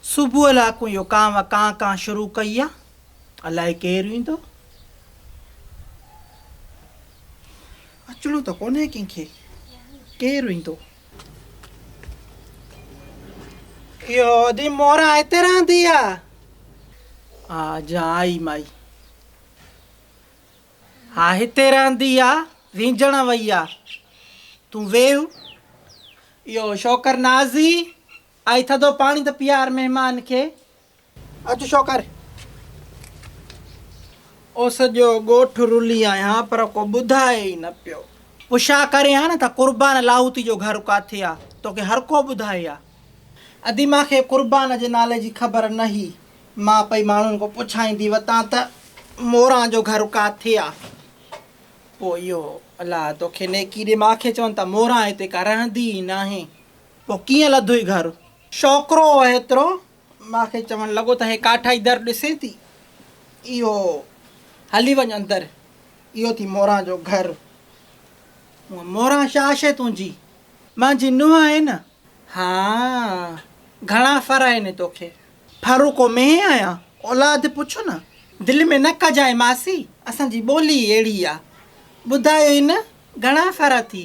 صبح لاکون اهو ڪانء ڪانء ڪانء شروع ڪئي آ، الائي ڪير ايندو؟ اچڻو ته ڪونهي ڪنهن کي، ڪير ايندو؟ اهو ادي مورا هتي رهندي آ؟ آ جا آئي مائي. ها هتي رهندي آ، وينجڻ وئي آ. تون ويهه. اهو شوڪر نازي آء ٿڌو پاڻي ٿو پيار مهمان کي. اچ شوڪر! او سڄو ڳوٺ رلي آهيان پر ڪو ٻڌائي ئي نه پيو. پڇا ڪرين ها نه ته قربان لاهوتي جو گهر ڪاٿي آ؟ توکي هر ڪو ٻڌائي ها. ادي مان کي قربان جي نالي جي خبر نه هئي. مان پئي ماڻهن کان پڇائيندي وتان ته موران جو گهر ڪاٿي آ؟ پوء اهو الله توکي نيڪي ڏي. مان کي چون ته موران هتي ڪا رهندي ئي ناهي. پوء ڪيئن لڌوئي گهر؟ ڇوڪرو اهيترو ماء کي چوڻ لڳو ته هي ڪاٺائي در ڏسين ٿي؟ اهو هلي وڃ اندر، اهو ٿي موران جو گهر. هونء موران ڇا شيء تنهنجي؟ مانجي نونهن آهين نه؟ ها، گهڻا ڦر آهن توکي؟ ڦر ڪو مينهن آهيان، اولاد پڇ نه. دل ۾ نه ڪجانء ماسي، اسان جي ٻولي ئي اهڙي آ. ٻڌايوئي نه، گهڻا ڦر اٿي؟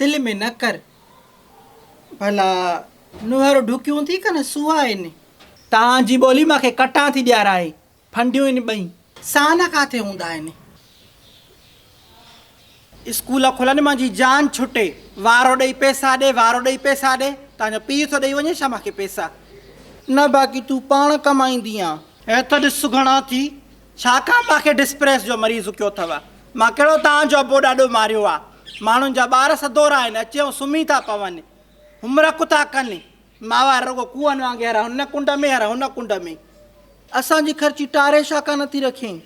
دل ۾ نه ڪر. ڀلا نوهر ڍڪيون ٿي ڪن سوها ان. تان جي ٻولي مان کي ڪٽان ٿي ڏيارائي ڦنڊيون ان ٻئي. سان ڪاٿي هوندا آهن. اسڪول کلن مان جي جان ڇٽي. وارو ڏئي پيسا ڏي وارو ڏئي پيسا ڏي. تان جو پيء ٿو ڏئي وڃي ڇا مان کي پيسا. نه باقي تون پاڻ ڪمائيندي آن. هيت ڏس سگهڻا ٿي ڇاڪاڻ مان کي ڊسپريس جو مريض ھڪيو اٿو. مان ڪھڙو توھان جو ابو ڏاڏو ماريو آ. ماڻھن جا ٻار سدورا آھن اچي ھو سمھي ٿا پون. ھومرڪ ٿا ڪن. ماھوار رڳو ڪوئن وانگي ھر ھن ڪنڊ ۾ ھر ھن ڪنڊ ۾. اسان جي خرچي ٽاري ڇاڪا نٿي رکين.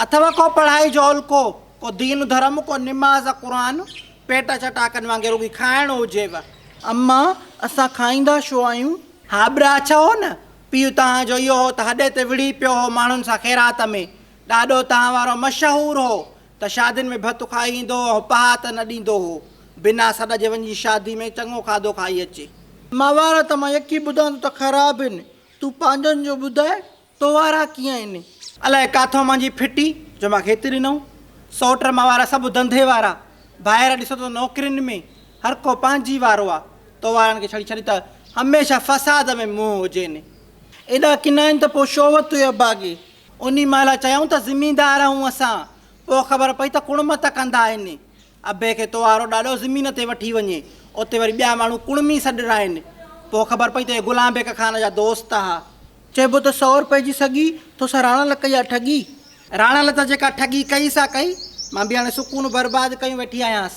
اٿو ڪو پڙھائي جو علقو. ڪو دين ڌرم ڪو نماز قرآن. پيٽ چٽاڪن وانگي رڳي کائڻ ھجيو. امان اسان کائيندا ڇو آھيون. ھابرا اڇا ھو نه پيء توهان جو اهو هو ته هڏي تي وڙهي پيو هو ماڻهن سان خيرات ۾. ڏاڏو توهان وارو مشهور هو ته شادين ۾ ڀت کائي ايندو هو ۽ پهات نه ڏيندو هو. بنا سڏ جي وڃي شادي ۾ چڱو کاڌو کائي اچي. ماهوار ته مان يڪي ٻڌان ٿو ته خراب هين. تون پنهنجن جو ٻڌاء تو وارا ڪيئن هين؟ الاء ڪاٿو منهنجي ڦٽي جو مان کيتي ڏنو. سؤٽ ماهوار سڀ ڌنڌي وارا. ڀائر ڏسو ته نوڪرين ۾. هر ڪو پنهنجي وارو آ. تو وارن کي ڇڙي ڇڏي ته هميشه فساد ۾ منهن هجين. ايڏا ڪنا آهن ته پوء شو وت هئي ابا کي. انهي مهل چيائون ته زميندار آهون اسان. پوء خبر پئي ته ڪڻ مت ڪندا آهن. ابي کي تو وارو ڏاڏو زمين تي وٺي وڃي. اتي وري ٻيا ماڻهو ڪڻمي سڏرا آهن. پوء خبر پئي ته اهي غلام بيڪ خان جا دوست آ. چئبو ته سئو روپئي جي سڳي تو سان راڻا لئه ڪئي آ ٺڳي. راڻا لئه ته جيڪا ٺڳي ڪئي سا ڪئي. مان به هاڻي سڪون برباد ڪيون ويٺي آهيانس.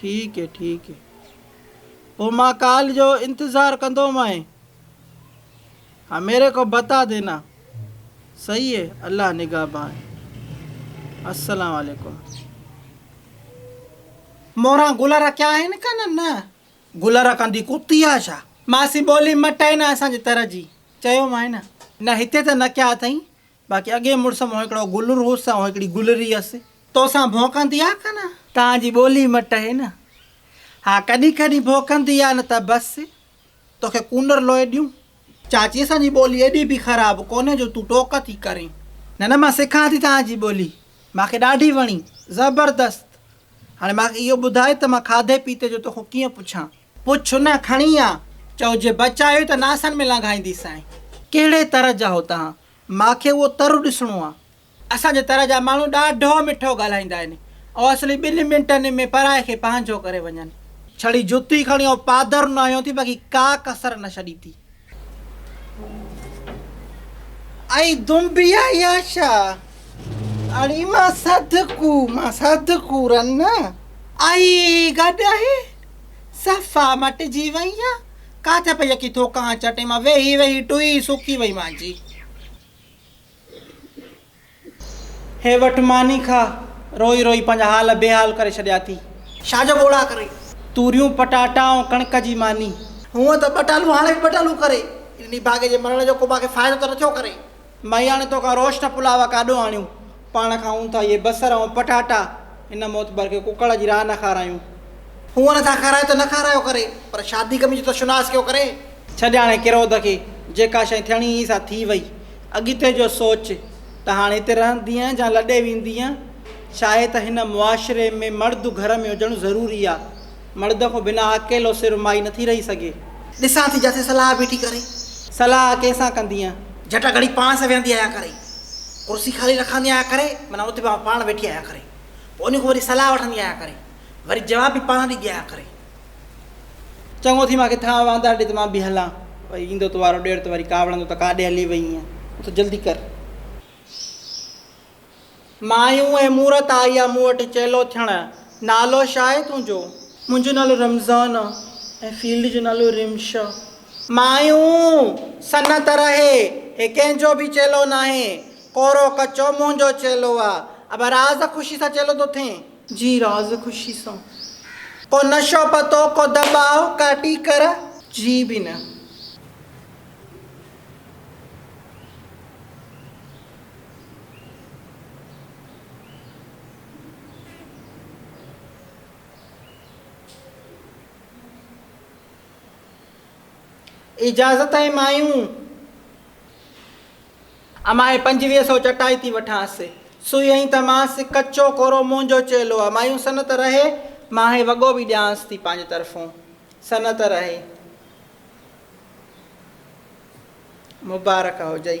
ٺيڪ هي ٺيڪ هي پو مان ڪال جو انتظار ڪندو مانء ها ميري ڪو بتا دينا صحيح هي الله نگهبان هي السلام عليڪم موران گل رکيا آهن ڪن نه گل رکن دي ڪتي آ ڇا. ماسي ٻولي مٽ آهي نه اسان جي تر جي چيومانء نه نه هتي ته نه ڪيا اٿئي باقي اڳئين مڙس مون هڪڙو گلر هوس ۽ هڪڙي گلري هيس. توسان ڀونڪندي آ ڪا نه؟ تان جي ٻولي مٽ هي نه. ها ڪڏهن ڪڏهن ڀونڪندي آ نه ته بس. توکي ڪونر لوئي ڏيون. چاچي اسان جي ٻولي ايڏي به خراب ڪونهي جو تون ٽوڪ ٿي ڪرين. نه نه مان سکان ٿي توهان جي ٻولي. مان کي ڏاڍي وڻي. زبردست. هاڻي مان کي اهو ٻڌاء ته مان کاڌي پيتي جو توکون ڪيئن پڇان. پڇ نه کڻي آ. چئو جي بچايو ته ناسن ۾ لنگهائينديسانء. ڪهڙي طرح جا هو توهان؟ مان کي اهو تر ڏسڻو آ. اسان جي تر جا ماڻهو ڏاڍو مٺو ڳالهائيندا آهن ۽ اصلي ٻن منٽن ۾ پرائي کي پنهنجو ڪري وڃن. ڇڙي جتي کڻي آئون پادر نه هنيو ٿي باقي ڪا ڪسر نه ڇڏي ٿي. اي دنبي عياشا! اڙي مان صدقو مان صدقو رنه. اي گڏهي! صفا مٽجي وئين يا ڪاٿي پئي اڪي ٿوڪان چٽي مان ويهي ويهي ٽوئي سوڪي وئي مانجي. هي وٺ ماني کا. روئي روئي پنهنجا حال بيحال ڪري ڇڏيا اٿئي. ڇا جو ٻوڙا ڪرين. توريون پٽاٽا ۽ ڪڻڪ جي ماني. هونء ته ٻٽالو هاڻي به ٻٽالو ڪري. ان نڀاڳي جي مرڻ جو ڪو مانکي فائدو ته نه ٿيو ڪري. مياڻي توکان روشن پلاء ڪاڏو آڻيون، پاڻ کائون ٿا اهي بصر ۽ پٽاٽا، هن معتبر کي ڪڪڙ جي راهه نه کارايون. هونئن نه ٿا کارايو ته نه کارايو ڪري، پر شادي ڪمي جو ته شناس ڪيو ڪري. ڇڏ هاڻي ڪروڌ کي، جيڪا شيء ٿيڻي هئي سا ٿي وئي، اڳتي جو سوچ ته هاڻ هتي رهندينء جا لڏي ويندينء؟ شايد ته هن معاشري ۾ مرد گهر ۾ هجڻ ضروري آ. مرد کون بنا اڪيلو سر مائي نٿي رهي سگهي. ڏسان ٿي جاٿي صلاح بيٺي ڪري. صلاح ڪنهن سان ڪندينء؟ جٽا گهڙي پاڻ سان ويهندي آهيان ڪري. ڪرسي خالي رکندي آهيان ڪري. معنيٰ اتي به پاڻ ويٺي آهيان ڪري. پوء انهي کان وري صلاح وٺندي آهيان ڪري. وري جواب به پاڻ ڏيندي آهيان ڪري. چڱو ٿي مان کي ٿانء وانڌار ڏي ته مان به هلان. وري ايندو تو وارو ڏير ته وري ڪاوڙندو ته ڪاڏي هلي وئينء. اٿ جلدي ڪر. مايون اي مورت آئي آ مون وٽ چيلو ٿيڻ نالو ڇا آهي تنهنجو؟ منهنجو نالو رمضان آ ۽ فيلڊ جو نالو رمش آ. مايون سنت رهي هي ڪنهن جو به چيلو ناهي ڪورو ڪچو منهنجو چيلو آ ابا راز خوشي سان چيلو ٿو ٿئين. جي راز خوشي سان. ڪو نشو پتو ڪو دٻاء ڪا ٽيڪر. جي به نه. اجازت اي مايون! اماهي پنجويهه سو چٽائي ٿي وٺانس. سوئي هئين ته مانس، ڪچو ڪورو منهنجو چيلو آ. مايون سنت رهي! ماهي وڳو به ڏيانس ٿي پنهنجي طرفون. سنت رهي! مبارڪ هجئي.